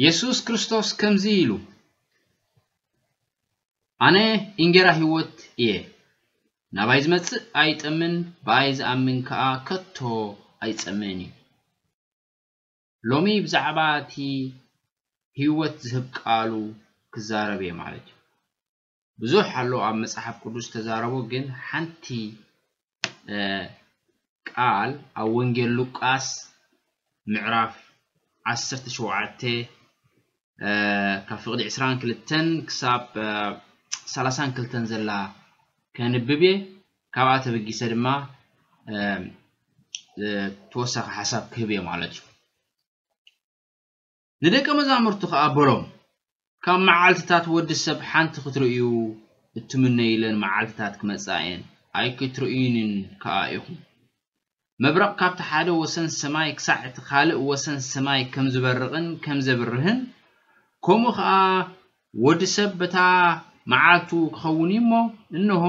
የሱስ ክርስቶስ ከምዚ ኢሉ ኣነ እንጌራ ህይወት እየ ናባይ ዝመጽእ ኣይጠምን ብኣይ ዝኣምን ከኣ ከቶ ኣይጸምእን እዩ ሎሚ ብዛዕባ እቲ ህይወት ዝህብ ቃሉ ክዛረብ እየ ማለት እዩ ብዙሕ ኣሎ ኣብ መጽሓፍ ቅዱስ ዝተዛረቦ ግን ሓንቲ ቃል ኣብ ወንጌል ሉቃስ ምዕራፍ ዓሰርተ ሸውዓተ ካብ ፍቕዲ ዕስራን ክልተን ክሳብ ሰላሳን ክልተን ዘላ ከንብብ እየ ካብኣ ተበጊሰ ድማ ተወሳኺ ሓሳብ ክህብ እየ ማለት እዩ ንደቀ መዛሙርቱ ኸኣ በሎም፣ ካብ መዓልትታት ወዲ ሰብ ሓንቲ ኽትርእዩ እትምነዩለን መዓልትታት ክመጽኣ እየን፣ ኣይክትርእዩንን ከኣ ኢኹም። መብረቕ ካብቲ ሓደ ወሰን ሰማይ ክሳዕ እቲ ኻልእ ወሰን ሰማይ ከም ዚበርቕን ከም ዜብርህን፣ ከምኡ ኸኣ ወዲ ሰብ በታ መዓልቱ ኪኸውን እዩ እሞ፣ እንሆ፣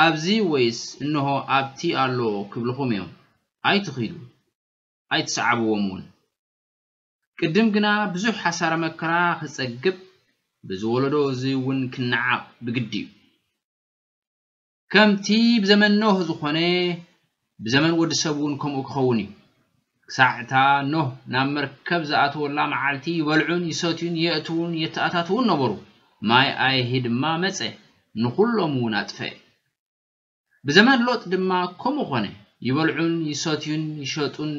ኣብዚ ወይስ እንሆ፣ ኣብቲ ኣሎ ኽብልኹም እዮም። ኣይትኺዱ፣ ኣይትስዓብዎምውን። ቅድም ግና ብዙሕ ሓሳረ መከራ ክጸግብ ብዚ ወለዶ እዚ እውን ክነዓቕ ብግዲ እዩ። ከምቲ ብዘመን ኖህ ዝኾነ ብዘመን ወዲ ሰብ እውን ከምኡ ክኸውን እዩ። ክሳዕ እታ ኖህ ናብ መርከብ ዝኣተወላ መዓልቲ ይበልዑን ይሰትዩን የእትዉን የተኣታትዉን ነበሩ። ማይ ኣይሂ ድማ መጸ ንኹሎም እውን ኣጥፈኤ። ብዘመን ሎጥ ድማ ከምኡ ኾነ፣ ይበልዑን ይሰትዩን ይሸጡን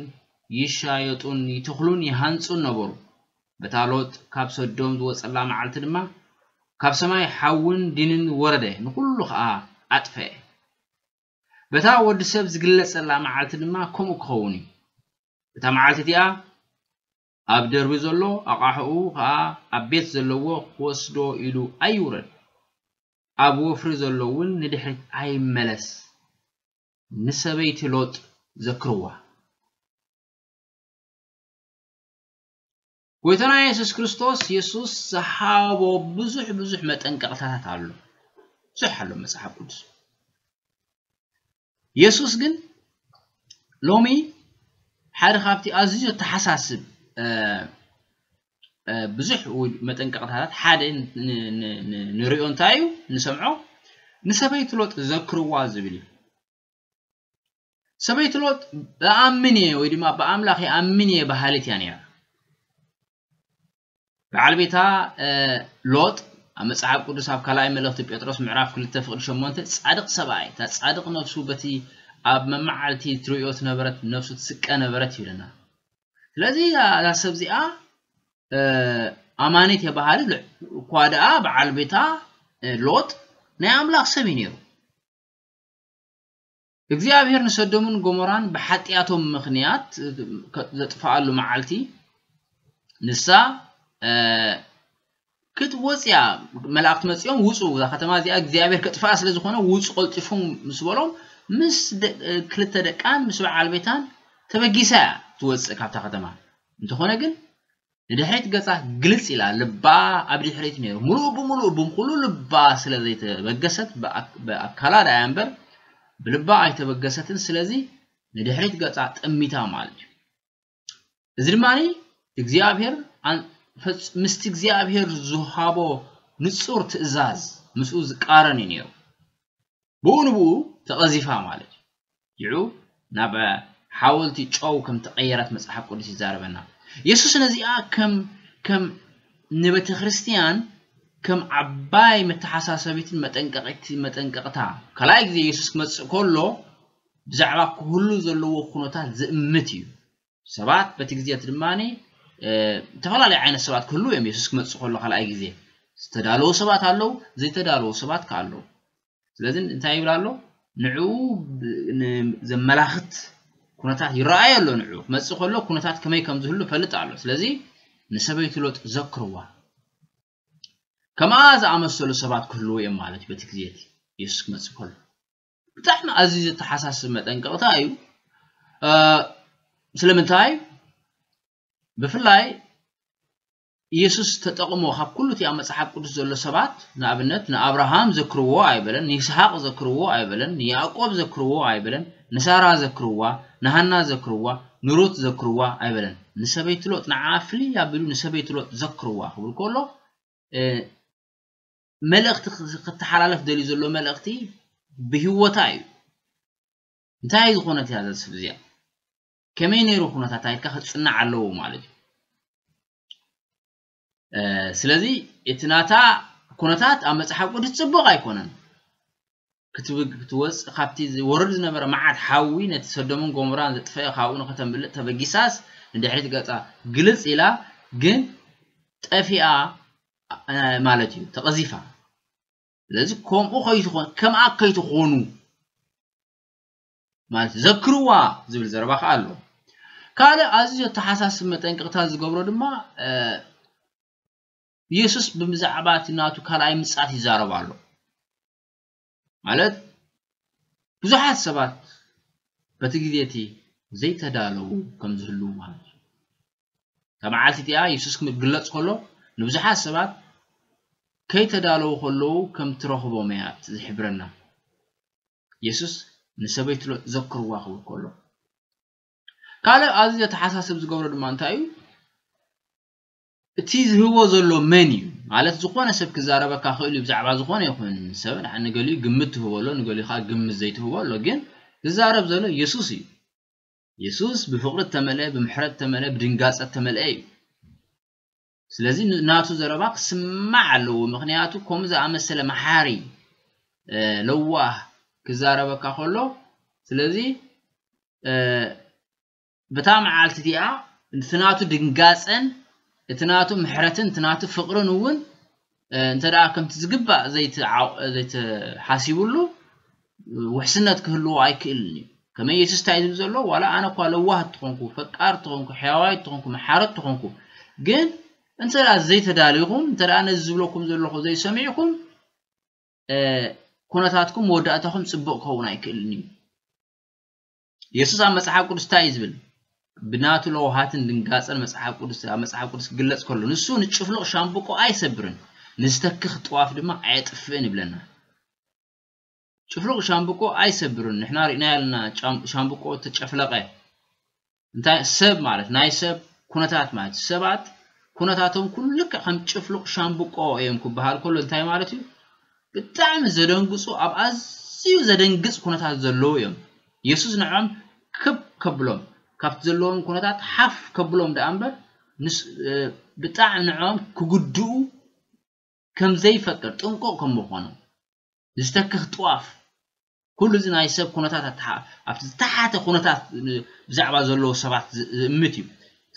ይሻየጡን ይተኽሉን ይሃንጹን ነበሩ። በታ ሎጥ ካብ ሰዶም ዝወጸላ መዓልቲ ድማ ካብ ሰማይ ሓውን ዲንን ወረደ ንኹሉ ኸኣ ኣጥፈኤ። በታ ወዲ ሰብ ዝግለጸላ መዓልቲ ድማ ከምኡ ክኸውን እዩ። እታ መዓልቲ እቲኣ ኣብ ደርቢ ዘሎ ኣቓሑኡ ከኣ ኣብ ቤት ዘለዎ ክወስዶ ኢሉ ኣይውረድ፣ ኣብ ወፍሪ ዘሎ'ውን ንድሕሪት ኣይመለስ ንሰበይቲ ሎጥ ዘክርዋ። ጐይታና የሱስ ክርስቶስ የሱስ ዝሃቦ ብዙሕ ብዙሕ መጠንቀቕታታት ኣሎ። ብዙሕ ኣሎ መጽሓፍ ቅዱስ። የሱስ ግን ሎሚ ሓደ ካብቲ ኣዝዩ ዘተሓሳስብ ብዙሕ መጠንቀቕታታት ሓደ ንሪኦ እንታይ እዩ ንሰምዖ ንሰበይቲ ሎጥ ዘክርዋ ዝብል እዩ ሰበይቲ ሎጥ ብኣምን እየ ወይ ድማ ብኣምላኽ ይኣምን እየ በሃሊት እያ ነይራ በዓል ቤታ ሎጥ ኣብ መጽሓፍ ቅዱስ ኣብ ካልኣይ መልእኽቲ ጴጥሮስ ምዕራፍ ክልተ ፍቕዲ ሸሞንተ ጻድቕ ሰብኣይ እታ ጻድቕ ነፍሱ በቲ ኣብ መመዓልቲ ትርእዮ ትነበረት ነፍሱ ትስቀ ነበረት ይብለና ስለዚ እዛ ሰብ እዚኣ ኣማኒት እየ በሃሊ እኳ ደኣ በዓል ቤታ ሎጥ ናይ ኣምላኽ ሰብ እዩ ነይሩ እግዚኣብሄር ንሰዶምን ጎሞራን ብሓጢኣቶም ምኽንያት ዘጥፍኣሉ መዓልቲ ንሳ ክትወፅያ መላእኽቲ መፂኦም ውፁ እዛ ከተማ እዚኣ እግዚኣብሄር ከጥፍኣ ስለ ዝኾነ ውፁ ቀልጢፉም ምስ በሎም ምስ ክልተ ደቃን ምስ በዓል ቤታን ተበጊሳ እያ ትወፅእ ካብታ ከተማ እንተኾነ ግን ንድሕሪት ገጻ ግልጽ ኢላ ልባ ኣብ ድሕሪት ነይሩ ምሉእ ብምሉእ ብምኩሉ ልባ ስለ ዘይተበገሰት ብኣካላ ዳያ እምበር ብልባ ኣይተበገሰትን ስለዚ ንድሕሪት ገጻ ጠሚታ ማለት እዩ እዚ ድማ እግዚኣብሔር ምስቲ እግዚኣብሔር ዝሃቦ ንጹር ትእዛዝ ምስኡ ዝቃረን እዩ ነይሩ ብኡ ንብኡ ተቐዚፋ ማለት እዩ ዩ ናብ ሓወልቲ ጨው ከም ተቀየረት መጽሓፍ ቅዱስ ይዛረበና የሱስ ነዚኣ ከም ከም ንቤተክርስትያን ከም ዓባይ መተሓሳሰቢትን መጠንቀቂት መጠንቀቅታ ካልኣይ ግዜ የሱስ ክመጽእ ከሎ ብዛዕባ ክህሉ ዘለዎ ኩነታት ዝእምት እዩ ሰባት በቲ ግዜ እቲ ድማ ዝተፈላለዩ ዓይነት ሰባት ክህልው እዮም የሱስ ክመፅእ ከሎ ካልኣይ ግዜ ዝተዳለዉ ሰባት ኣለዉ ዘይተዳለዉ ሰባት ከዓ ኣለዉ ስለዚ እንታይ ይብል ኣሎ ንዕኡ ዘመላኽት ኩነታት ይረኣዩ ኣሎ ንዑ ክመፅእ ከሎ ኩነታት ከመይ ከም ዝህሉ ፈልጥ ኣሎ ስለዚ ንሰበይቲ ሎጥ ዘክርዋ ከምኣ ዝኣመሰሉ ሰባት ክህልዎ እዮም ማለት እዩ በቲ ግዜ እቲ የሱስ ክመፅእ ከሎ ብጣዕሚ ኣዝዩ ዘተሓሳስብ መጠንቀቕታ እዩ። ስለምንታይ ብፍላይ ኢየሱስ ተጠቕሞ ካብ ኩሉ እቲ ኣብ መጽሓፍ ቅዱስ ዘሎ ሰባት ንኣብነት ንኣብርሃም ዘክርዎ ኣይበለን፣ ንይስሓቅ ዘክርዎ ኣይበለን፣ ንያዕቆብ ዘክርዎ ኣይበለን፣ ንሳራ ዘክርዋ፣ ንሃና ዘክርዋ፣ ንሩት ዘክርዋ ኣይበለን። ንሰበይቲ ሎጥ ንዓኣ ፍልይ ኣቢሉ ንሰበይቲ ሎጥ ዘክርዋ ክብል ከሎ መልእኽቲ ክተሓላለፍ ደልዩ ዘሎ መልእኽቲ ብህይወታ እዩ እንታይ እዩ ዝኾነት እያ ዘስብ እዚኣ ከመይ ነይሩ ኩነታታ ኢልካ ክፅናዕ ኣለዎ ማለት እዩ ስለዚ እቲ ናታ ኩነታት ኣብ መፅሓፍ ቅዱስ ፅቡቕ ኣይኮነን ክትብግ ክትወጽእ ካብቲ ዝወርድ ዝነበረ መዓት ሓዊ ነቲ ሰዶምን ጎሞራን ዘጥፈኤ ካብኡ ንኸተምልጥ ተበጊሳስ ንድሕሪት ገጻ ግልጽ ኢላ ግን ጠፊኣ ማለት እዩ ተቐዚፋ ስለዚ ከምኡ ከይትኾን ከምኣ ከይትኾኑ ማለት ዘክርዋ ዝብል ዘረባ ከዓ ኣሎ ካልእ ኣዝዩ ዘተሓሳስብ መጠንቀቕታ ዝገብሮ ድማ ኢየሱስ ብዛዕባ እቲ ናቱ ካልኣይ ምጽኣት ይዛረብ ኣሎ ማለት ብዙሓት ሰባት በቲ ግዜ እቲ ዘይተዳለዉ ከም ዝህልዉ ማለት እዩ። እታ መዓልቲ እቲኣ የሱስ ክግለጽ ከሎ ንብዙሓት ሰባት ከይተዳለዉ ከለዉ ከም እትረኽቦም እያ ዝሕብረና። የሱስ ንሰበይቲ ሎጥ ዘክርዋ ክብል ከሎ ካልእ ኣዝዩ ዘተሓሳስብ ዝገብሮ ድማ እንታይ እዩ? እቲ ዝህቦ ዘሎ መን እዩ ማለት ዝኾነ ሰብ ክዛረበካ ክእል እዩ ብዛዕባ ዝኾነ ይኹን ሰብ ንዓ ንገሊኡ ግምት ትህቦ ኣሎ ንገሊኡ ከዓ ግምት ዘይትህቦ ኣሎ ግን ዝዛረብ ዘሎ የሱስ እዩ የሱስ ብፍቕሪ እተመልአ ብምሕረት እተመልአ ብድንጋጸ እተመልአ እዩ ስለዚ ናቱ ዘረባ ክስማዕ ኣለዎ ምክንያቱ ከምኡ ዝኣመሰለ መሓሪ ለዋህ ክዛረበካ ከሎ ስለዚ በታ መዓልቲ እቲኣ እቲ ናቱ ድንጋጸን እቲ ናቱ ምሕረትን እቲ ናቱ ፍቕርን እውን እንተ ከምቲ ዝግባእ ዘይተሓሲብሉ ውሕስነት ክህልዎ ኣይክእልን እዩ ከመይ የሱስ እንታይ ዝብል ዘሎ ዋላ ኣነ እኳ ለዋህ እትኾንኩ ፈቃር እትኾንኩ ሕያዋይ እትኾንኩ መሓረ እትኾንኩ ግን እንተ ዘይተዳሊኹም እንተ ነዚ ዝብለኩም ዘለኹ ዘይሰሚዕኩም ኩነታትኩም መወዳእታኹም ፅቡቕ ክኸውን ኣይክእልን እዩ የሱስ ኣብ መጽሓፍ ቅዱስ እንታይ እዩ ዝብል? ብናቱ ለውሃትን ድንጋጸን መጽሓፍ ቅዱስ ኣብ መጽሓፍ ቅዱስ ክግለጽ ከሎ ንሱ ንጭፍሉቕ ሻምብቆ ኣይሰብርን ንዝተክኽ ጥዋፍ ድማ ኣየጥፍእን ይብለና። ጭፍሉቕ ሻምብቆ ኣይሰብርን ንሕና ርኢናዮ ኣለና ሻምብቆ ተጨፍለቐ እንታይ ሰብ ማለት ናይ ሰብ ኩነታት ማለት ሰባት ኩነታቶም ኩሉ ልክዕ ከም ጭፍሉቕ ሻምብቆ እዮም ክበሃል ከሎ እንታይ ማለት እዩ ብጣዕሚ ዘደንግጹ ኣብ ኣዝዩ ዘደንግጽ ኩነታት ዘለዉ እዮም የሱስ ንዕኦም ክብ ከብሎም ካብቲ ዘለዎም ኩነታት ሓፍ ከብሎም ደኣ እምበር ንሱ ብጣዕሚ ንዕኦም ክጉድኡ ከምዘይፈቅድ ጥንቁቕ ከምምዃኑ ዝተክኽ ጥዋፍ ኩሉ እዚ ናይ ሰብ ኩነታት ኣብቲ ዝተሓተ ኩነታት ብዛዕባ ዘለዉ ሰባት ዝእምት እዩ።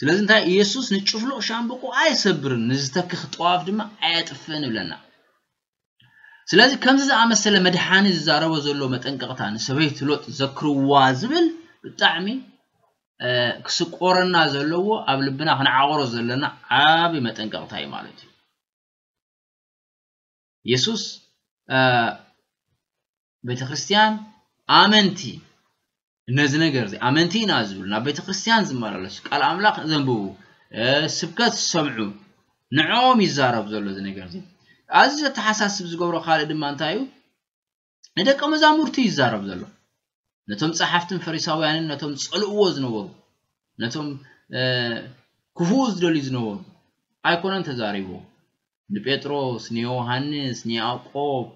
ስለዚ እንታይ ኢየሱስ ንጭፍሉቕ ሻምብቆ ኣይሰብርን ንዝተክኽ ጠዋፍ ድማ ኣየጥፍእን እብለና። ስለዚ ከምዚ ዝኣመሰለ መድሓኒ ዝዛረቦ ዘሎ መጠንቀቕታ ንሰበይቲ ሎጥ ዘክርዋ ዝብል ብጣዕሚ ክስቆረና ዘለዎ ኣብ ልብና ክንዓቕሮ ዘለና ዓቢ መጠንቀቕታ እዩ ማለት እዩ። የሱስ ቤተ ክርስትያን ኣመንቲ ነዚ ነገር እዚ ኣመንቲ ኢና ዝብሉ ናብ ቤተ ክርስትያን ዝመላለሱ ቃል ኣምላኽ ዘንብቡ ስብከት ዝሰምዑ ንዕኦም ይዛረብ ዘሎ እዚ ነገር እዚ ኣዚ ዘተሓሳስብ ዝገብሮ ካልእ ድማ እንታይ እዩ ንደቀ መዛሙርቱ እዩ ዝዛረብ ዘሎ ነቶም ጸሓፍትን ፈሪሳውያንን ነቶም ጸልእዎ ዝነበሩ ነቶም ክፉኡ ዝደልዩ ዝነበሩ ኣይኮነን ተዛሪቦ ንጴጥሮስ ንዮሃንስ ንያዕቆብ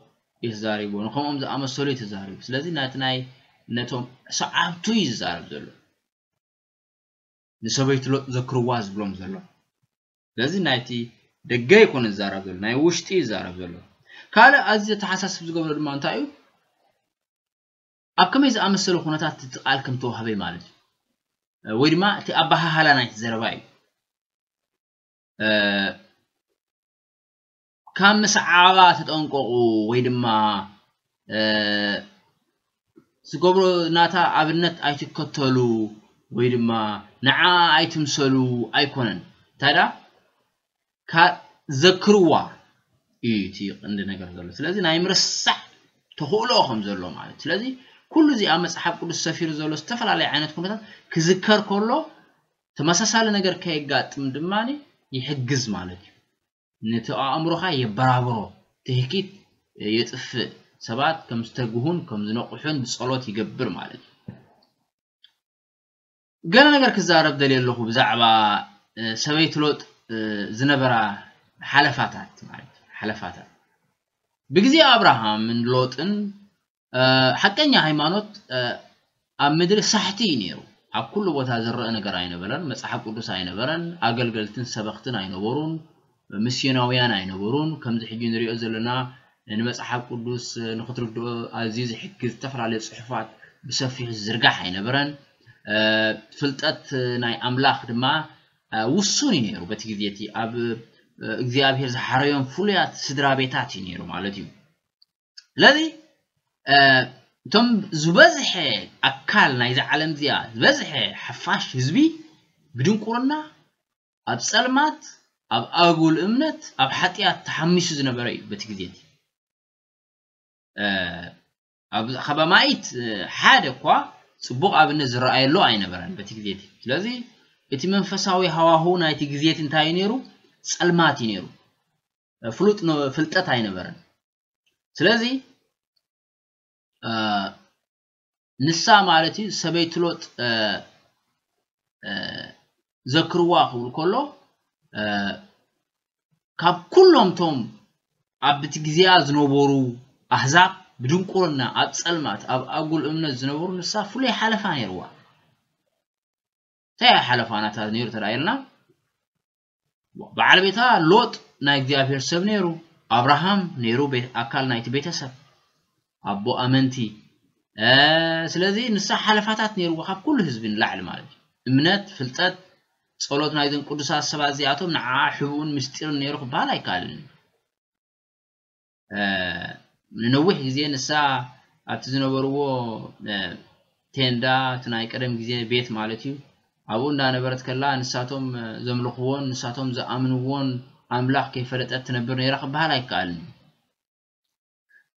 እዩ ተዛሪቦ ንከምኦም ዝኣመሰሉ እዩ ተዛሪቡ ስለዚ ናቲ ናይ ነቶም ሰዓብቱ እዩ ዝዛረብ ዘሎ ንሰበይቱ ሎጥ ዘክርዋ ዝብሎም ዘሎ ስለዚ ናይቲ ደገ ይኮነ ዝዛረብ ዘሎ ናይ ውሽጢ እዩ ዝዛረብ ዘሎ ካልእ ኣዝዩ ዘተሓሳስብ ዝገብሮ ድማ እንታይ እዩ ኣብ ከመይ ዝኣመሰለ ኩነታት እቲ ቃል ከም ተዋህበ ማለት እዩ ወይ ድማ እቲ ኣበሃህላ ናይቲ ዘረባ እዩ ካብ ምስዓባ ተጠንቀቑ ወይ ድማ ዝገብሮ ናታ ኣብነት ኣይትከተሉ ወይ ድማ ንዓኣ ኣይትምሰሉ ኣይኮነን እንታይ ደኣ ዘክርዋ እዩ እቲ ቀንዲ ነገር ዘሎ ስለዚ ናይ ምርሳዕ ተኽእሎ ከም ዘሎ ማለት ስለዚ ኩሉ እዚ ኣብ መጽሓፍ ቅዱስ ሰፊሩ ዘሎ ዝተፈላለየ ዓይነት ኩነታት ክዝከር ከሎ ተመሳሳሊ ነገር ከየጋጥም ድማ ይሕግዝ ማለት እዩ ነቲ ኣእምሮኻ የበራብሮ፣ ትህኪት የጥፍእ፣ ሰባት ከም ዝተግሁን ከም ዝነቕሑን ብጸሎት ይገብር ማለት እዩ። ገለ ነገር ክዛረብ ደልየ ኣለኹ ብዛዕባ ሰበይቲ ሎጥ ዝነበራ ሓለፋታት ማለት ሓለፋታት ብግዜ ኣብርሃምን ሎጥን ሓቀኛ ሃይማኖት ኣብ ምድሪ ሳሕቲ እዩ ነይሩ። ኣብ ኩሉ ቦታ ዝረኣ ነገር ኣይነበረን። መጽሓፍ ቅዱስ ኣይነበረን። ኣገልገልትን ሰበኽትን ኣይነበሩን። ምስዮናውያን ኣይነበሩን። ከምዚ ሕጂ ንሪኦ ዘለና ንመጽሓፍ ቅዱስ ንኽትርድኦ ኣዝዩ ዝሕግዝ ዝተፈላለዩ ጽሑፋት ብሰፊሑ ዝዝርጋሕ ኣይነበረን። ፍልጠት ናይ ኣምላኽ ድማ ውሱን እዩ ነይሩ። በቲ ግዜ እቲ ኣብ እግዚኣብሔር ዝሓረዮም ፍሉያት ስድራ ቤታት እዩ ነይሩ ማለት እዩ። ስለዚ እቶም ዝበዝሐ ኣካል ናይዛ ዓለም እዚኣ ዝበዝሐ ሓፋሽ ህዝቢ ብድንቁርና ኣብ ጸልማት ኣብ ኣጉል እምነት ኣብ ሓጢኣት ተሓሚሱ ዝነበረ እዩ በቲ ግዜ እቲ ኣብ ኸባማይት ሓደ እኳ ጽቡቕ ኣብነት ዝረኣየሉ ኣይነበረን በቲ ግዜ እቲ ስለዚ እቲ መንፈሳዊ ሃዋሁ ናይቲ ግዜ እቲ እንታይ እዩ ነይሩ ጸልማት እዩ ነይሩ ፍሉጥ ፍልጠት ኣይነበረን ስለዚ ንሳ ማለት እዩ ሰበይቲ ሎጥ ዘክርዋ ክብል ከሎ ካብ ኩሎም ቶም ኣብቲ ግዜያ ዝነበሩ ኣህዛብ ብድንቁርና ኣብ ጸልማት ኣብ ኣጉል እምነት ዝነበሩ ንሳ ፍሉይ ሓለፋ ነይርዋ እንታይ ሓለፋናታት ነይሩ ተራእየልና በዓል ቤታ ሎጥ ናይ እግዚኣብሔር ሰብ ነይሩ ኣብርሃም ነይሩ ኣካል ናይቲ ቤተሰብ ኣቦ ኣመንቲ ስለዚ ንሳ ሓለፋታት ነይርዎ ካብ ኩሉ ህዝቢ ንላዕሊ ማለት እዩ እምነት ፍልጠት ጸሎት ናይዞም ቅዱሳት ሰባት እዚኣቶም ንዓ ሕቡእን ምስጢርን ነይሩ ክበሃል ኣይከኣልን እዩ ንነዊሕ ግዜ ንሳ ኣብቲ ዝነበርዎ ቴንዳ፣ እቲ ናይ ቀደም ግዜ ቤት ማለት እዩ፣ ኣብኡ እንዳነበረት ከላ ንሳቶም ዘምልኽዎን ንሳቶም ዝኣምንዎን ኣምላኽ ከይፈለጠት ትነብር ነይራ ክበሃል ኣይከኣልን እዩ።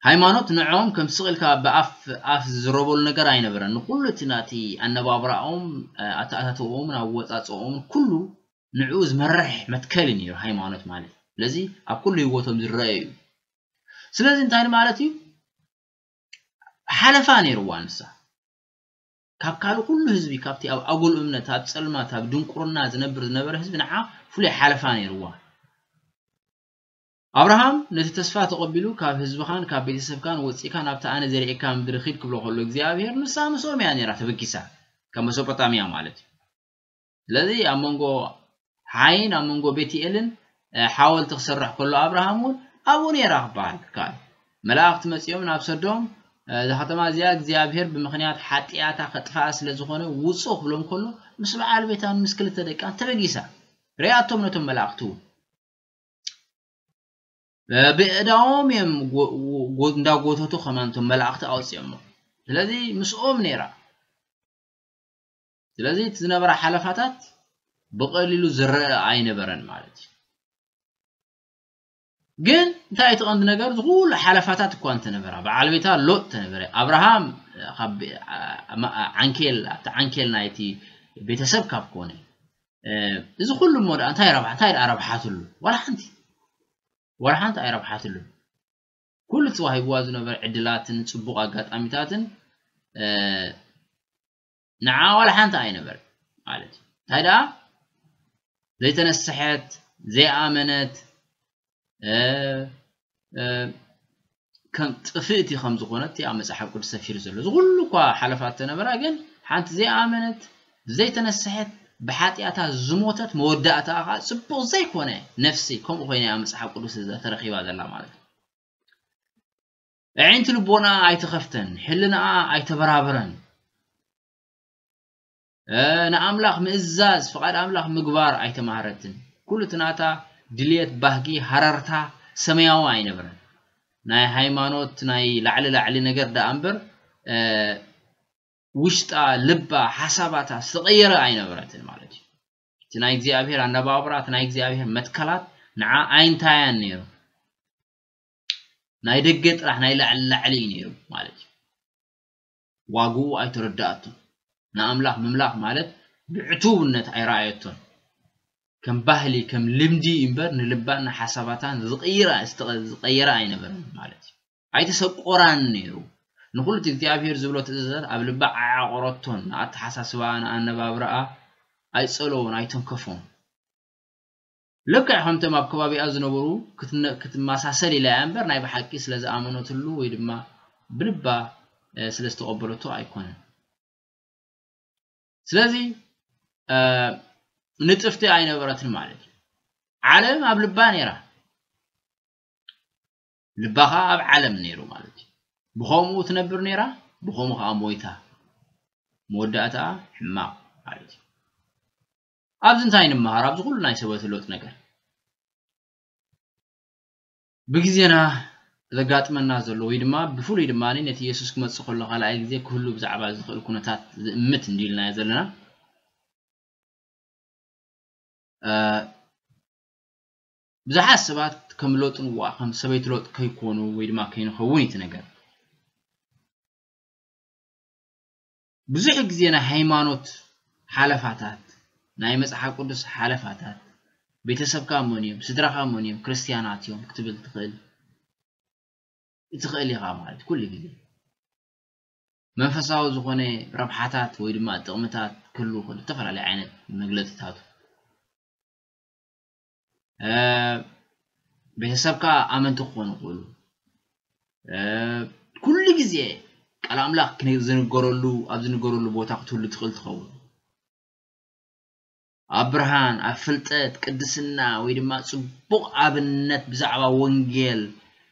ሃይማኖት ንዕኦም ከም ስቕ ኢልካ ብኣፍ ኣፍ ዝዝረበሉ ነገር ኣይነበረን። ንኹሉ እቲ ናቲ ኣነባብራኦምን ኣተኣታትውኦምን ኣወጻጽኦምን ኩሉ ንዕኡ ዝመርሕ መትከል እዩ ነይሩ ሃይማኖት ማለት ስለዚ ኣብ ኩሉ ህይወቶም ዝረኣይ እዩ ስለዚ እንታይ ማለት እዩ ሓለፋ ነይርዋ ንሳ ካብ ካልእ ኩሉ ህዝቢ ካብቲ ኣብ ኣጉል እምነት ኣብ ጸልማት ኣብ ድንቁርና ዝነብር ዝነበረ ህዝቢ ንዓ ፍሉይ ሓለፋ ነይርዋ ኣብርሃም ነቲ ተስፋ ተቐቢሉ ካብ ህዝብኻን ካብ ቤተሰብካን ወፂእካ ናብቲ ኣነ ዘርኤካ ምድሪ ኺድ ክብሎ ከሎ እግዚኣብሄር ንሳ ምስኦም እያ ነይራ ተበጊሳ ካብ መሶጶጣምያ ማለት እዩ ስለዚ ኣብ መንጎ ሓይን ኣብ መንጎ ቤትኤልን ሓወልቲ ክስራሕ ከሎ ኣብርሃም እውን ኣብኡ ነይራ ክበሃል ክከኣል መላእኽቲ መጺኦም ናብ ሰዶም እዛ ከተማ እዚኣ እግዚኣብሔር ብምክንያት ሓጢኣታ ከጥፍኣ ስለ ዝኾነ ውጹ ክብሎም ከሎ ምስ በዓል ቤታን ምስ ክልተ ደቃን ተበጊሳ ርኣቶም ነቶም መላእኽቲ እውን ብእዳዎም እዮም እንዳጎተቱ ከማን እቶም መላእኽቲ ኣውፅኦሞ ስለዚ ምስኦም ነይራ ስለዚ እቲ ዝነበረ ሓለፋታት ብቐሊሉ ዝረአ ኣይነበረን ማለት እዩ። ግን እንታይ እቲ ቀንዲ ነገር እዚ ኩሉ ሓለፋታት እኳ እንተነበራ በዓል ቤታ ሎጥ ተነበረ ኣብርሃም ካብ ዓንኬል ኣብቲ ዓንኬል ናይቲ ቤተሰብ ካብ ኮነ እዚ ኩሉ እሞ ደኣ እንታይ ረብሓ እንታይ ደኣ ረብሓትሉ ዋላ ሓንቲ ዋላ ሓንቲ ኣይረብሓትሉ ኩሉ ተዋሂብዋ ዝነበረ ዕድላትን ፅቡቕ ኣጋጣሚታትን ንዓ ዋላ ሓንቲ ኣይነበረት ማለት እዩ እንታይ ደኣ ዘይተነስሐት ዘይኣመነት ከም ጥፍእቲ ከም ዝኾነት ኣብ መጽሓፍ ቅዱስ ሰፊሩ ዘሎ እዚ ኩሉ እኳ ሓለፋት ተነበራ ግን ሓንቲ ዘይኣመነት ዘይተነስሐት ብሓጢኣታ ዝሞተት መወዳእታ ከዓ ፅቡቕ ዘይኮነ ነፍሲ ከምኡ ኮይነ ኣብ መፅሓፍ ቅዱስ ተረኪባ ዘላ ማለት እዩ ኣዒንቲ ልቦናኣ ኣይተኸፍተን፣ ሕልናኣ ኣይተበራበረን። ንኣምላኽ ምእዛዝ ፍቓድ ኣምላኽ ምግባር ኣይተማህረትን ኩሉ እቲ ናታ ድልየት ባህጊ ሃረርታ ሰማያዊ ኣይነበረን ናይ ሃይማኖት ናይ ላዕሊ ላዕሊ ነገር ደኣ እምበር ውሽጣ ልባ ሓሳባታ ዝተቐየረ ኣይነበረትን ማለት እዩ እቲ ናይ እግዚኣብሄር ኣነባብራ እቲ ናይ እግዚኣብሄር መትከላት ንዓ ኣይንታያን ነይሩ ናይ ደገ ጥራሕ ናይ ላዕሊ ላዕሊ እዩ ነይሩ ማለት እዩ። ዋግኡ ኣይተረድኣቶን። ንኣምላኽ ምምላኽ ማለት ብዕቱብነት ኣይረኣየቶን። ከም ባህሊ ከም ልምዲ እዩ እምበር ንልባን ንሓሳባታን ዝቕይራ ዝቐየራ ኣይነበረን ማለት እዩ። ኣይተሰቆራን ነይሩ። ንኹሉ እቲ እግዚኣብሄር ዝብሎ ትእዛዛት ኣብ ልባ ኣየዕቆረቶን፣ ንኣተሓሳስባኣ ንኣነባብራኣ ኣይጸለዎን ኣይተንከፎን። ልክዕ ከምቶም ኣብ ከባቢኣ ዝነበሩ ክትመሳሰል ኢላ እያ እምበር ናይ ብሓቂ ስለ ዝኣመነትሉ ወይ ድማ ብልባ ስለ ዝተቐበለቶ ኣይኮነን። ስለዚ ንጥፍቲ ኣይነበረትን ማለት እዩ። ዓለም ኣብ ልባ ነይራ። ልባ ከዓ ኣብ ዓለም ነይሩ ማለት እዩ። ብኸምኡ ትነብር ነይራ፣ ብኸምኡ ከዓ ሞይታ። መወዳእታኣ ሕማቕ ማለት እዩ። ኣብዚ እንታይ ንመሃር ኣብዚ ኩሉ ናይ ሰበቲ ሎጥ ነገር ብግዜና ዘጋጥመና ዘሎ ወይ ድማ ብፍሉይ ድማ ነቲ የሱስ ክመጽእ ከሎ ካልኣይ ግዜ ክህሉ ብዛዕባ ዝኽእል ኩነታት ዝእምት እንድዩ ኢልናዮ ዘለና ብዙሓት ሰባት ከም ሎጥ ንዋ ከም ሰበይቲ ሎጥ ከይኮኑ ወይ ድማ ከይንኸውን እዩ እቲ ነገር ብዙሕ ግዜ ናይ ሃይማኖት ሓለፋታት፣ ናይ መጽሓፍ ቅዱስ ሓለፋታት፣ ቤተሰብካ መን እዮም፣ ስድራኻ መን እዮም፣ ክርስትያናት እዮም ክትብል ትኽእል እትኽእል ኢኻ ማለት ኩሉ ግዜ። መንፈሳዊ ዝኾነ ረብሓታት ወይ ድማ ጥቕምታት ክህልው ከሎ እተፈላለየ ዓይነት መግለጺታቱ። ቤተሰብካ ኣመንቲ ክኾኑ ይኽእሉ። ኩሉ ግዜ ቃል ኣምላኽ ዝንገረሉ ኣብ ዝንገረሉ ቦታ ክትህሉ ትኽእል ትኸውን። ኣብ ብርሃን፣ ኣብ ፍልጠት፣ ቅድስና ወይ ድማ ጽቡቕ ኣብነት ብዛዕባ ወንጌል፣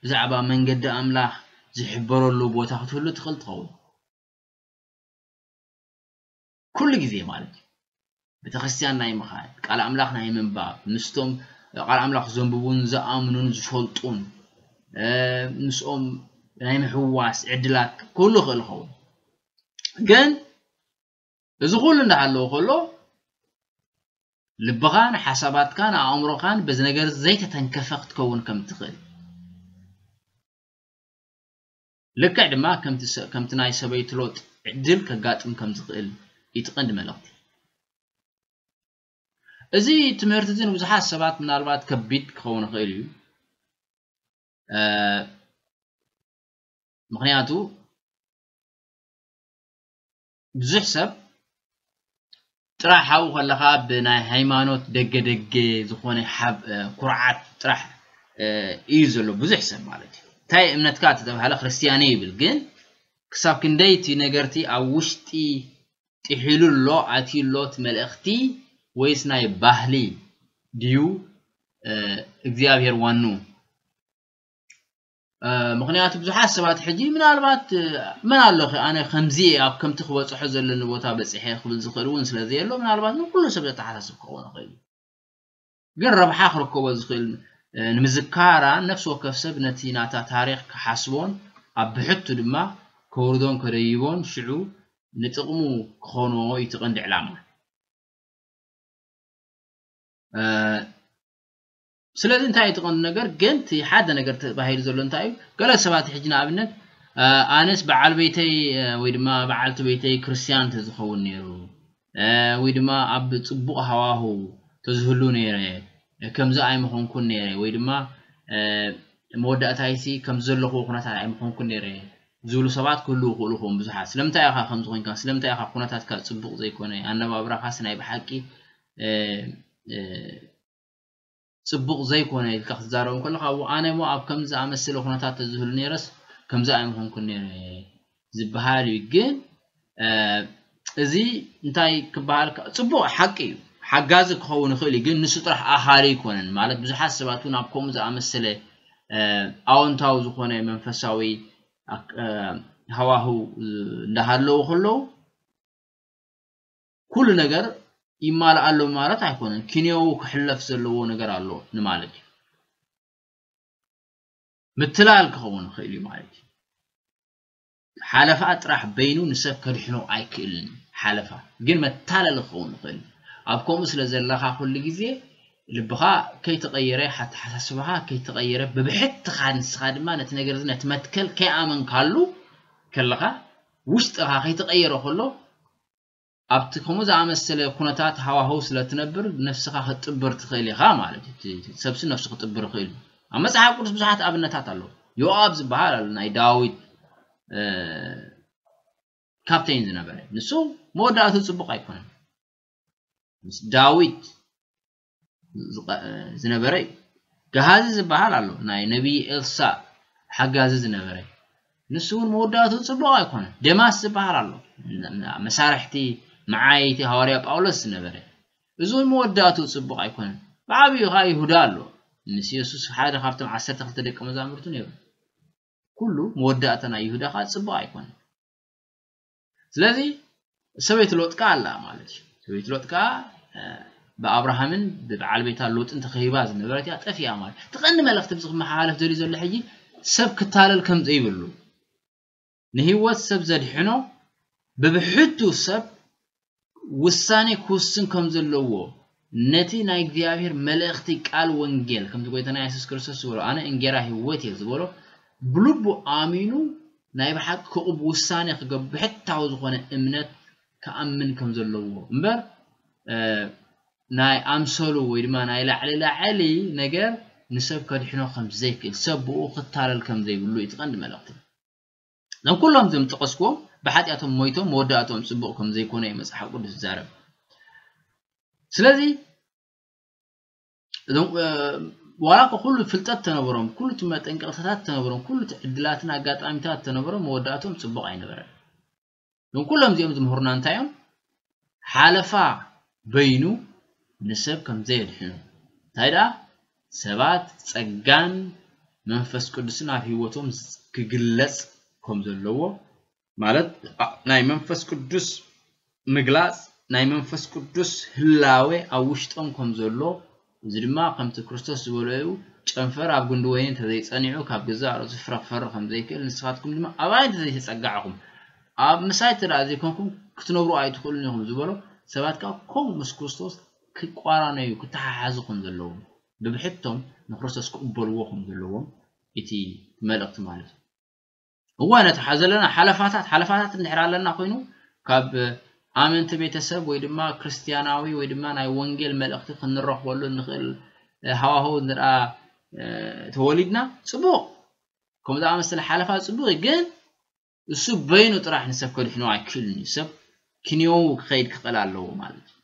ብዛዕባ መንገዲ ኣምላኽ ዝሕበረሉ ቦታ ክትህሉ ትኽእል ትኸውን። ኩሉ ግዜ ማለት እዩ ቤተክርስትያን ናይ ምኻድ ቃል ኣምላኽ ናይ ምንባብ ምስቶም ቃል ኣምላኽ ዘንብቡን ዝኣምኑን ዝፈልጡን ምስኦም ናይ ምሕዋስ ዕድላት ኩሉ ይኽእል ይኸውን ግን እዚ ኩሉ እንዳሃለዎ ከሎ ልብኻን ሓሳባትካን ኣእምሮኻን በዚ ነገር ዘይተተንከፈ ክትከውን ከም ትኽእል ልክዕ ድማ ከምቲ ናይ ሰበይቱ ሎጥ ዕድል ከጋጥም ከም ዝኽእል እዩ እቲ ቀንዲ መልእኽቲ። እዚ ትምህርቲ እዚ ንብዙሓት ሰባት ምናልባት ከቢድ ክኸውን ይኽእል እዩ፣ ምኽንያቱ ብዙሕ ሰብ ጥራሕ ሓው ከለኻ ብናይ ሃይማኖት ደገ ደገ ዝኾነ ኩርዓት ጥራሕ እዩ ዘሎ ብዙሕ ሰብ ማለት እዩ እንታይ እምነትካ ተተባሃለ ክርስትያነ ይብል ግን ክሳብ ክንደይ እቲ ነገርቲ ኣብ ውሽጢ ጥሒሉ ኣሎ ኣትዩ ኣሎ እቲ መልእኽቲ ወይስ ናይ ባህሊ ድዩ እግዚኣብሔር ዋኑ ምኽንያቱ ብዙሓት ሰባት ሕጂ ምናልባት መን ኣሎኸ ኣነ ከምዚ እየ ኣብ ከምቲ ክበፅሖ ዘለኒ ቦታ በፂሐ ክብል ዝኽእል እውን ስለ ዘየሎ ምናልባት ንኩሉ ሰብ ዘተሓሳስብ ክኸውን ይኽእል እዩ ግን ረብሓ ክርከቦ ዝኽእል ንምዝካራ ነፍሲ ወከፍ ሰብ ነቲ ናታ ታሪኽ ክሓስቦን ኣብ ብሕቱ ድማ ከውርዶን ከደይቦን ሽዑ ንጥቕሙ ክኾኖ እዩ እቲ ቀንዲ ዕላማ ስለዚ እንታይ እዩ ትቐንዲ ነገር ግን እቲ ሓደ ነገር ተባሂሉ ዘሎ እንታይ እዩ ገለ ሰባት ሕጂ ንኣብነት ኣነስ በዓል ቤተይ ወይ ድማ በዓልቲ ቤተይ ክርስትያን ተዝኸውን ነይሩ ወይ ድማ ኣብ ፅቡቕ ሃዋሁ ተዝህሉ ነይረ ከምዚ ኣይምኾንኩን ነይረ ወይ ድማ መወዳእታይሲ ከም ዘለኹዎ ኩነታት ኣይምኾንኩን ነይረ ዝብሉ ሰባት ክህልዉ ይኽእሉ ኹም ብዙሓት ስለምንታይ ኢኻ ከምዚ ኮንካ ስለምንታይ ኢኻ ኩነታትካ ፅቡቕ ዘይኮነ ኣነባብራኻስ ናይ ብሓቂ ጽቡቕ ዘይኮነ ኢልካ ክትዛረብ እንከለኻ እው ኣነ እሞ ኣብ ከምዚ ዝኣመሰለ ኩነታት ተዝህሉ ነይረስ ከምዚ ኣይምኾንኩን ነይረ ዝበሃል እዩ ግን እዚ እንታይ ክበሃል ጽቡቕ ሓቂ እዩ ሓጋዚ ክኸውን ይኽእል እዩ ግን ንሱ ጥራሕ ኣኻሊ ኣይኮነን ማለት ብዙሓት ሰባት እውን ኣብ ከምኡ ዝኣመሰለ ኣወንታዊ ዝኾነ መንፈሳዊ ሃዋህው እንዳሃለዉ ከለዉ ኩሉ ነገር ይማልኣሎም ማለት ኣይኮነን ኪንዮኡ ክሕለፍ ዘለዎ ነገር ኣሎ ንማለት እዩ ምትላል ክኸውን ይኽእል እዩ ማለት እዩ ሓለፋ ጥራሕ በይኑ ንሰብ ከድሕኖ ኣይክእልን እዩ ሓለፋ ግን መታለሊ ክኸውን ይኽእል እዩ ኣብ ከምኡ ስለ ዘለኻ ኩሉ ግዜ ልብኻ ከይተቐየረ ሓተሓሳስባኻ ከይተቐየረ ብብሕትኻ ንስኻ ድማ ነቲ ነገር እዚ ነቲ መትከል ከይኣመንካሉ ከለኻ ውሽጥኻ ከይተቐየረ ከሎ ኣብቲ ከምኡ ዝኣመሰለ ኩነታት ሃዋህው ስለ እትነብር ነፍስኻ ክትጥብር ትኽእል ኢኻ ማለት እዩ። እቲ እቲ ሰብሲ ነፍሱ ክጥብር ይኽእል እዩ። ኣብ መጽሓፍ ቅዱስ ብዙሓት ኣብነታት ኣለዉ። ዮኣብ ዝበሃል ኣሎ ናይ ዳዊት እ፣ ካፕቴን ዝነበረ ንሱ መወዳእቱ ጽቡቕ ኣይኮነን። ምስ ዳዊት ዝነበረ እዩ ገሃዚ ዝበሃል ኣሎ ናይ ነብዪ ኤልሳእ ሓጋዚ ዝነበረ ንሱ እውን መወዳእትኡ ጽቡቕ ኣይኮነን ደማስ ዝበሃል ኣሎ መሳርሕቲ መዓየይቲ ሃዋርያ ጳውሎስ ዝነበረ እዚ እውን መወዳእትኡ ጽቡቕ ኣይኮነን ብዓብዩ ከዓ ይሁዳ ኣሎ ምስ የሱስ ሓደ ካብቶም ዓሰርተ ክልተ ደቂ መዛሙርቱ ነይሩ ኩሉ መወዳእታ ናይ ይሁዳ ከዓ ጽቡቕ ኣይኮነን ስለዚ ሰበይቲ ሎጥ ከኣ ኣላ ማለት እዩ ሰበይቲ ሎጥ ከኣ ብኣብርሃምን ብበዓል ቤታ ሎጥን ተኸቢባ ዝነበረት እያ ጠፊኣ ማለት እቲ ቀንዲ መልእኽቲ ብዚ ክመሓላለፍ ዘልዩ ዘሎ ሕጂ ሰብ ክታለል ከም ዘይብሉ ንህይወት ሰብ ዘድሕኖ ብብሕቱ ሰብ ውሳኔ ክውስን ከም ዘለዎ ነቲ ናይ እግዚኣብሔር መልእኽቲ ቃል ወንጌል ከምቲ ጎይታና የሱስ ክርስቶስ ዝበሎ ኣነ እንጌራ ሕይወት እየ ዝበሎ ብልቡ ኣሚኑ ናይ ብሓቂ ክቕብ ውሳኔ ክገብ ብሕታዊ ዝኾነ እምነት ክኣምን ከም ዘለዎ እምበር ናይ ኣምሰሉ ወይ ድማ ናይ ላዕሊ ላዕሊ ነገር ንሰብ ከድሕኖ ከም ዘይክእል ሰብ ብኡ ክታለል ከም ዘይብሉ እቲ ቀንዲ መልእኽቲ እዞም ኩሎም እዞም ዝጠቐስክዎም ብሓጢኣቶም ሞይቶም መወዳእትኦም ጽቡቕ ከም ዘይኮነ እዩ መጽሓፍ ቅዱስ ዝዛረብ ስለዚ እዞም ዋላ እኳ ኩሉ ፍልጠት ተነበሮም ኩሉ እቲ መጠንቀቕታታት ተነበሮም ኩሉ እቲ ዕድላትን ኣጋጣሚታት ተነበሮም መወዳእትኦም ጽቡቕ ኣይነበረን እዞም ኩሎም እዚኦም ዝምህሩና እንታይ እዮም ሓለፋ በይኑ ንሰብ ከም ዘየድሕኑ እንታይ ደኣ ሰባት ጸጋን መንፈስ ቅዱስን ኣብ ህይወቶም ክግለጽ ከም ዘለዎ ማለት ናይ መንፈስ ቅዱስ ምግላጽ ናይ መንፈስ ቅዱስ ህላዌ ኣብ ውሽጦም ከም ዘሎ እዚ ድማ ከምቲ ክርስቶስ ዝበሎ'ዩ፣ ጨንፈር ኣብ ጉንዲ ወይኒ እንተ ዘይጸኒዑ፣ ካብ ገዛእ ርእሱ ፍረ ክፈሪ ኸም ዘይክእል፣ ንስኻትኩም ድማ ኣባይ እንተ ዘይተጸጋዕኹም፣ ኣብ ምሳይ እንተ ደኣ ዘይኰንኩም ክትነብሩ ኣይትኽእሉን ኢኹም ዝበሎ፣ ሰባት ከኣ ከምኡ ምስ ክርስቶስ ኪቋራነዩ፣ ኪተሓሓዙ ኸም ዘለዎም፣ ብብሕቶም ንክርስቶስ ኪቕበልዎ ኸም ዘለዎም፣ እቲ መልእኽቲ ማለት'ዩ። እዋን እቲ ዘለና ሓለፋታት ሓለፋታት እንድሕር ኣለና ኮይኑ ካብ ኣመንቲ ቤተሰብ ወይ ድማ ክርስትያናዊ ወይ ድማ ናይ ወንጌል መልእኽቲ ክንረኽበሉ እንኽእል ሃዋህው እንድኣ ተወሊድና ጽቡቕ ከምኡ ዝኣመሰለ ሓለፋ ጽቡቕ እዩ ግን እሱ በይኑ ጥራሕ ንሰብ ከድሕኖ ኣይክእልን እዩ ሰብ ክንየው ክኸይድ ክኽእል ኣለዎ ማለት እዩ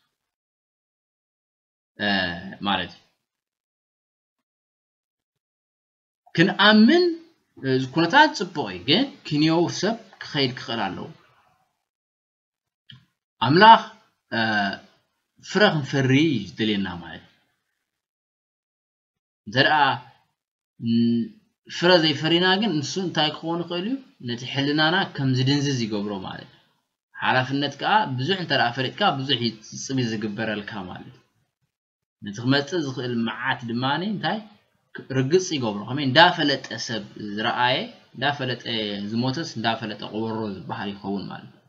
ማለት እዩ ክንኣምን ኩነታት ጽቡቕ እዩ ግን ክንዮው ሰብ ክኸይድ ክኽእል ኣለዎ ኣምላኽ ፍረ ክንፈሪ እዩ ዝደልየና ማለት እንተ ደኣ ፍረ ዘይፈሪና ግን ንሱ እንታይ ክኸውን ይኽእል እዩ ነቲ ሕልናና ከም ዝድንዝዝ ይገብሮ ማለት እዩ ሓላፍነት ከዓ ብዙሕ እንተ ደኣ ፈሪጥካ ብዙሕ እዩ ዝግበረልካ ማለት እዩ ነቲ ክመጽእ ዝኽእል መዓት ድማ እንታይ ርግጽ ይገብሮ ከመይ እንዳፈለጠ ሰብ ዝረኣየ እንዳፈለጠ ዝሞተስ እንዳፈለጠ ቆበሮ ዝበሃል ይኸውን ማለት እዩ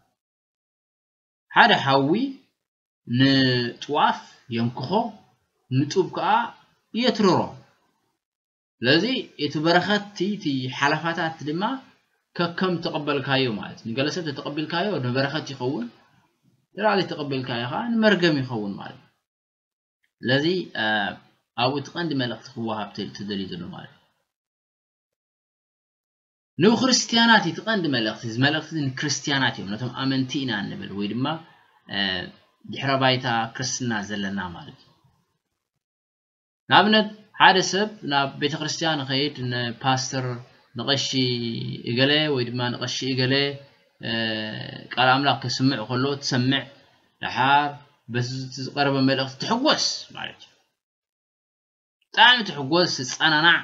ሓደ ሓዊ ንጥዋፍ የንክኾ ንጡብ ከዓ የትርሮ ስለዚ እቲ በረኸትቲ እቲ ሓለፋታት ድማ ከከም ተቐበልካዮ ማለት ንገለ ሰብ ተተቐቢልካዮ ንበረኸት ይኸውን ንላዕሊ ተቐቢልካዮ ከዓ ንመርገም ይኸውን ማለት ስለዚ ኣብኡ እቲ ቀንዲ መልእኽቲ ክወሃብ ተደልዩ ዘሎ ማለት ንክርስትያናት እቲ ቀንዲ መልእኽቲ እዚ መልእኽቲ ንክርስትያናት እዮም ነቶም ኣመንቲ ኢና እንብል ወይ ድማ ድሕረ ባይታ ክርስትና ዘለና ማለት እዩ ንኣብነት ሓደ ሰብ ናብ ቤተክርስትያን ኸይድ ንፓስተር ንቐሺ እገለ ወይ ድማ ንቐሺ እገለ ቃል ኣምላኽ ከስምዕ ከሎ ትሰምዕ ደሓር በቲ ዝቐረበ መልእኽቲ ትሕጎስ ማለት እዩ ብጣዕሚ ትሕጎስ ትጸናናዕ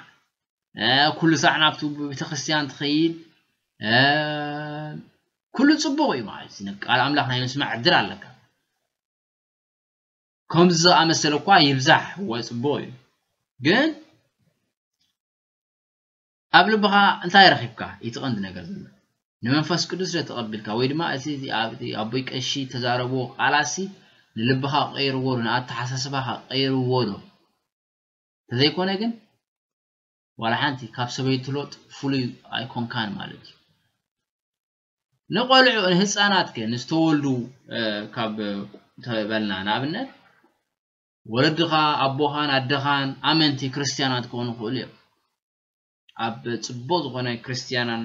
ኩሉ ሳዕ ናብቲ ቤተክርስትያን ትኸይድ ኩሉ ጽቡቕ እዩ ማለት ቃል ኣምላኽ ናይ ምስማዕ ዕድል ኣለካ ከምዚ ዝኣመሰለ እኳ ይብዛሕ እወ ጽቡቕ እዩ ግን ኣብ ልብኻ እንታይ ረኺብካ እቲ ቀንዲ ነገር ዘሎ ንመንፈስ ቅዱስ ዶ ተቐቢልካ ወይ ድማ እቲ ኣቦይ ቀሺ ተዛረብዎ ቃላሲ ንልብኻ ቀይርዎ ዶ ንኣተሓሳስባኻ ቀይርዎ ዶ ተዘይኮነ ግን ዋላ ሓንቲ ካብ ሰበይትሎጥ ፍሉይ ኣይኮንካን ማለት እዩ ንቆልዑ ንህፃናት ከ ንዝተወልዱ ካብ ተበልና ንኣብነት ወለድኻ ኣቦኻን ኣደኻን ኣመንቲ ክርስትያናት ክኾኑ ይኽእሉ እዮም ኣብ ፅቡቅ ዝኾነ ክርስትያናን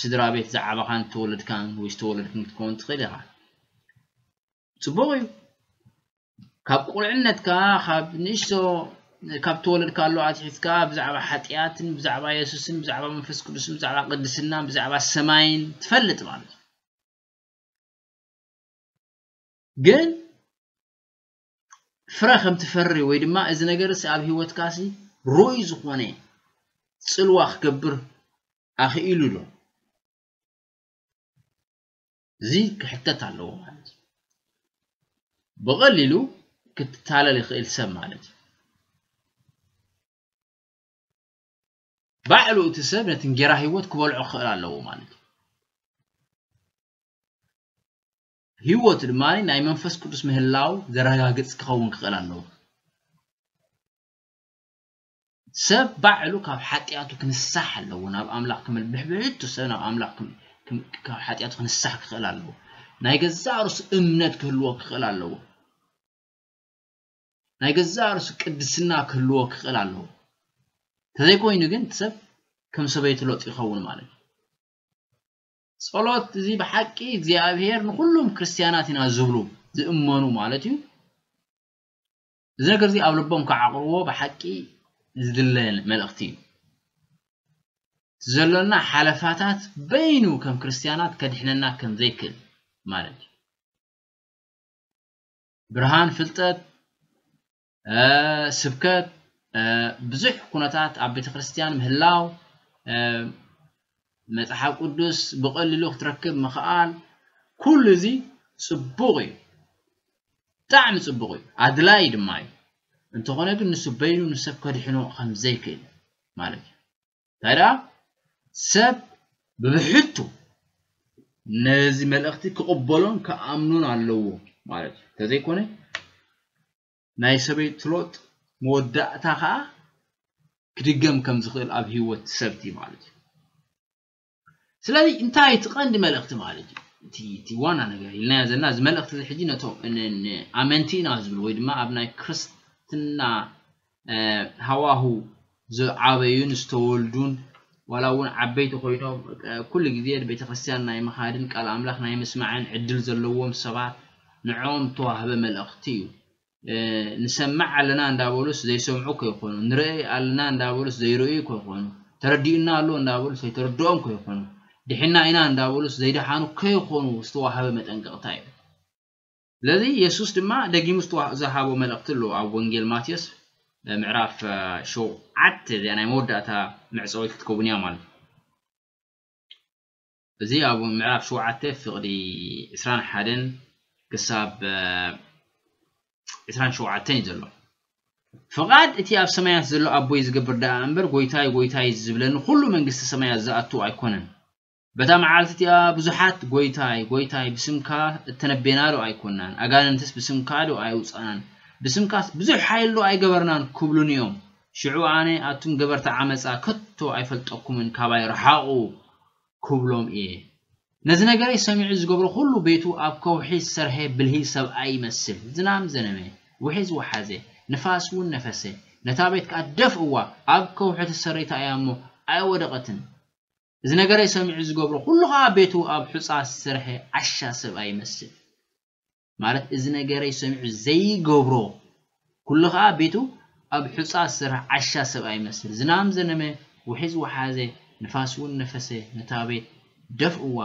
ስድራ ቤት ዝዓበኻን ተወለድካን ወይ ዝተወለድክን ክትከውን ትኽእል ኢኻ ጽቡቕ እዩ ካብ ቁልዕነትካ ካብ ንእሽቶ ካብ ተወለድካሉ ኣትሒዝካ ብዛዕባ ሓጢኣትን ብዛዕባ የሱስን ብዛዕባ መንፈስ ቅዱስን ብዛዕባ ቅድስናን ብዛዕባ ሰማይን ትፈልጥ ማለት እዩ ግን ፍረ ከም ትፈሪ ወይ ድማ እዚ ነገር ሲ ኣብ ሂወትካ ሲ ርኡይ ዝኾነ ጽልዋ ክገብር ኣኽኢሉ ዶ እዚ ክሕተት ኣለዎ ማለት እዩ። ብቐሊሉ ክትታለል ይኽእል ሰብ ማለት እዩ። ባዕሉ እቲ ሰብ ነቲ እንጌራ ህይወት ክበልዖ ክኽእል ኣለዎ ማለት እዩ። ህይወት ድማ ናይ መንፈስ ቅዱስ ምህላው ዘረጋግጽ ክኸውን ክኽእል ኣለዎ። ሰብ ባዕሉ ካብ ሓጥያቱ ክንሳሕ ኣለዎ ናብ ኣምላኽ ክምል ብሕብሕቱ ሰብ ናብ ኣምላኽ ካብ ሓጥያቱ ክንሳሕ ክኽእል ኣለዎ ናይ ገዛእ ርእሱ እምነት ክህልዎ ክኽእል ኣለዎ ናይ ገዛእ ርእሱ ቅድስና ክህልዎ ክኽእል ኣለዎ ተዘይኮይኑ ግን እቲ ሰብ ከም ሰበይቲ ሎጥ ይኸውን ማለት እዩ ጸሎት እዚ ብሓቂ እግዚኣብሔር ንኹሉም ክርስትያናት ኢና ዝብሉ ዝእመኑ ማለት እዩ እዚ ነገር እዚ ኣብ ልቦም ክዓቕርዎ ብሓቂ ዝድለ መልእኽቲ እዩ። ዘሎና ሓለፋታት በይኑ ከም ክርስትያናት ከድሕነና ከም ዘይክእል ማለት እዩ። ብርሃን ፍልጠት ስብከት ብዙሕ ኩነታት ኣብ ቤተ ክርስትያን ምህላው መጽሓፍ ቅዱስ ብቐሊሉ ክትረክብ ምኽኣል ኩሉ እዚ ጽቡቕ እዩ ብጣዕሚ ጽቡቕ እዩ ኣድላይ ድማ እዩ እንተኾነ ግን ንሱ በይኑ ንሰብ ከድሕኖ ከም ዘይክእል ማለት እዩ እንታይ ደኣ ሰብ ብብሕቱ ነዚ መልእኽቲ ክቕበሎን ክኣምኖን ኣለዎ ማለት እዩ እንተዘይኮነ ናይ ሰበይቲ ሎጥ መወዳእታ ከኣ ክድገም ከም ዝኽእል ኣብ ህይወት ሰብ'ቲ ማለት እዩ። ስለዚ እንታይ እቲ ቀንዲ መልእኽቲ ማለት እዩ እቲ እቲ ዋና ነገር ኢልናዮ ዘለና እዚ መልእኽቲ እዚ ሕጂ ነቶም ንኣመንቲ ኢና ዝብሉ ወይ ድማ ኣብ ናይ ክርስትና ሃዋሁ ዝዓበዩን ዝተወልዱን ዋላ እውን ዓበይቲ ኮይኖም ኩሉ ግዜ ቤተክርስትያን ናይ ምኻድን ቃል ኣምላኽ ናይ ምስማዕን ዕድል ዘለዎም ሰባት ንዕኦም እተዋህበ መልእኽቲ እዩ። ንሰምዕ ኣለና እንዳበሉስ ዘይሰምዑ ከይኮኑ፣ ንርእይ ኣለና እንዳበሉስ ዘይርእዩ ከይኮኑ፣ ተረዲኡና ኣሎ እንዳበሉስ ዘይተረድኦም ከይኮኑ፣ ድሒንና ኢና እንዳበሉስ ዘይደሓኑ ከይኮኑ ዝተዋህበ መጠንቀቕታ እዩ። ስለዚ የሱስ ድማ ደጊሙ ዝሃቦ መልእኽቲ ኣሎ ኣብ ወንጌል ማቴዎስ ምዕራፍ ሸውዓተ እዚኣ ናይ መወዳእታ መዕጸዊት ክትከውን እያ ማለት እዩ እዚ ኣብ ምዕራፍ ሸውዓተ ፍቕዲ ዕስራን ሓደን ክሳብ ዕስራን ሸውዓተን እዩ ዘሎ ፍቓድ እቲ ኣብ ሰማያት ዘሎ ኣቦይ ዝገብር ደኣ እምበር ጎይታይ ጎይታይ ዝብለኒ ኩሉ መንግስቲ ሰማያት ዝኣቱ ኣይኮነን በታ መዓልቲ እቲኣ ብዙሓት ጐይታይ፣ ጐይታይ፣ ብስምካ እተነበናዶ ኣይኰንናን? ኣጋንንትስ ብስምካዶ ኣይኣውጻእናን? ብስምካስ ብዙሕ ሓይሊዶ ኣይገበርናን? ክብሉኒ እዮም። ሽዑ ኣነ፣ ኣቱም ገበርቲ ዓመጻ፣ ከቶ ኣይፈልጠኩምን፣ ካባይ ርሓቑ፣ ክብሎም እየ። ነዚ ነገረይ ሰሚዑ ዝገብሮ ዅሉ ቤቱ ኣብ ከውሒ ዝሰርሔ ብልሂ ሰብኣይ ይመስል። ዝናም ዘነመ፣ ውሒዝ ወሓዘ፣ ንፋስ እውን ነፈሰ፣ ነታ ቤት ከኣ ደፍእዋ፣ ኣብ ከውሒ ተሰሪታ እያ እሞ ኣይወደቐትን። እዚ ነገረይ ሰሚዑ ዝገብሮ ኩሉ ከኣ ቤቱ ኣብ ሑጻ ዝሰርሐ ዓሻ ሰብኣይ ይመስል ማለት እዚ ነገረይ ሰሚዑ ዘይገብሮ ኩሉ ከኣ ቤቱ ኣብ ሑጻ ዝሰርሐ ዓሻ ሰብኣይ ይመስል ዝናም ዘነመ ውሒዝ ወሓዘ ንፋስ ውን ነፈሰ ነታ ቤት ደፍእዋ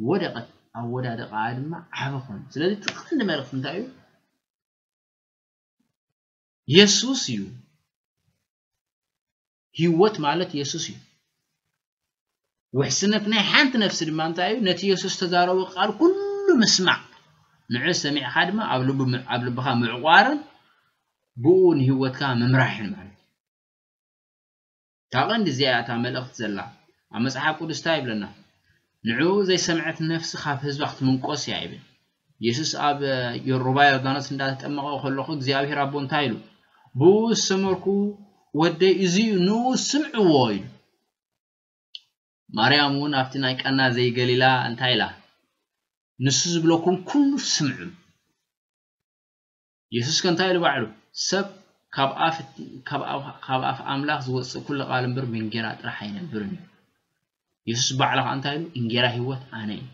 ወደቀት ኣወዳድቃኣ ድማ ዓቢ ኮነ ስለዚ እቲ ቀንዲ መልእክቲ እንታይ እዩ የሱስ እዩ ህይወት ማለት የሱስ እዩ። ውሕስነት ናይ ሓንቲ ነፍሲ ድማ እንታይ እዩ? ነቲ የሱስ ዝተዛረቦ ቃል ኩሉ ምስማዕ፣ ንዑ ሰሚዕካ ድማ ኣብ ልቡ ኣብ ልብኻ ምዕቋርን ብኡ ንህይወትካ ምምራሕን ማለት እዩ። እታ ቀንዲ እዚኣ እያ እታ መልእኽቲ ዘላ። ኣብ መጽሓፍ ቅዱስ እንታይ ይብለና? ንዑ ዘይሰምዐት ነፍሲ ካብ ህዝባ ክትምንቆስ እያ ይብል። የሱስ ኣብ ዮርባ ዮርዳኖስ እንዳ ተጠመቐ ከሎኹ እግዚኣብሄር ኣቦ እንታይ ኢሉ? ብእኡ ዝሰመርኩ ወደይ እዚ እዩ ንእኡ ስምዕዎ ኢሉ። ማርያም እውን ኣብቲ ናይ ቀና ዘይገሊላ እንታይ ኢላ? ንሱ ዝብለኩም ኩሉ ስምዑ። የሱስ ከ እንታይ ኢሉ ባዕሉ ሰብ ካብ ኣፍ ካብ ኣፍ ኣምላኽ ዝወጽእ ኩሉ ቃል እምበር ብእንጌራ ጥራሕ ኣይነብርን እዩ የሱስ ባዕሉ ከ እንታይ ኢሉ እንጌራ ህይወት ኣነ እዩ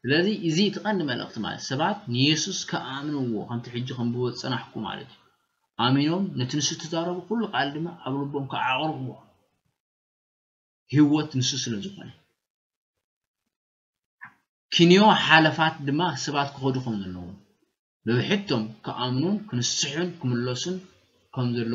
ስለዚ እዚ እቲ ቀንዲ መልእኽቲ ማለት ሰባት ንየሱስ ከኣምንዎ ከምቲ ሕጂ ከም ብወ ጽናሕኩ ማለት እዩ ኣሚኖም ነቲ ንሱ እተዛረቡ ኩሉ ቃል ድማ ኣብ ልቦም ከዓቕርዎ ህይወት ንሱ ስለ ዝኾነ ኪንዮ ሓለፋት ድማ ሰባት ክኸዱ ከምዘለዎም፣ ብብሕቶም ክኣምኑን ክንስሑን ክምለሱን ከምዘለዎም፣